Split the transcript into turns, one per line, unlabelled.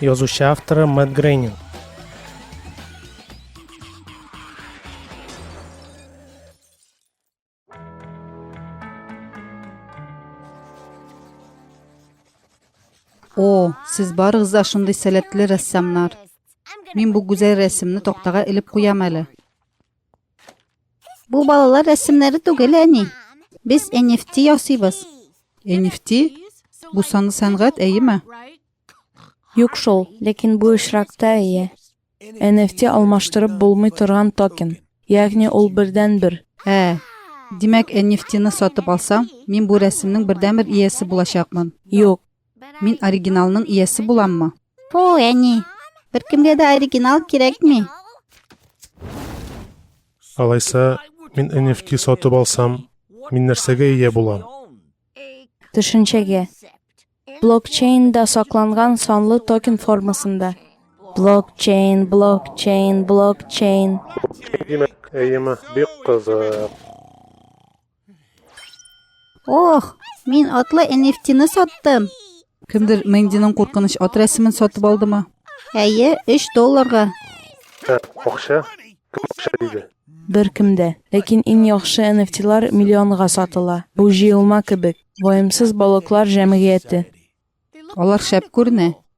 Язучы авторы Мэтт Грейнинг.
О, сез барыгыз да шундый сәләтле рәссамнар. Мин бу гүзәл рәсемне тактага элеп куям әле. Бу балалар рәсемнәре түгел, әни. Без NFT ясыйбыз. NFT? Бу саны сәнгать, әйеме?
Юк шул, ләкин бу очракта әйе. NFT алмаштырып булмый торган токен. Ягъни ул бердән-бер. Ә,
димәк, NFT-ны сатып алсам, мин бу рәсемнең бердән-бер иясе булачакмын. Юк,
Мин
оригиналның иясе буламмы? Фу, әни.
Беркемгә дә оригинал кирәкми.
Алайса, мин NFT сатып алсам, мин нәрсәгә ия булам? Төшенчәгә.
Блокчейнда сакланган санлы токен формасында. Блокчейн, блокчейн, блокчейн.
Димәк, әйеме, бик кызык.
Ох, мин атлы NFT-ны саттым. Кемдер
Мэндиның куркыныч ат рәсемен сатып алдымы? Әйе, 3
долларга. Ә,
акча? Кем акча диде? Бер кемдә.
Ләкин иң яхшы NFT-лар миллионга сатыла. Бу җыелма кебек.
Ваемсыз
балыклар җәмгыяте. Алар
шәп
күренә.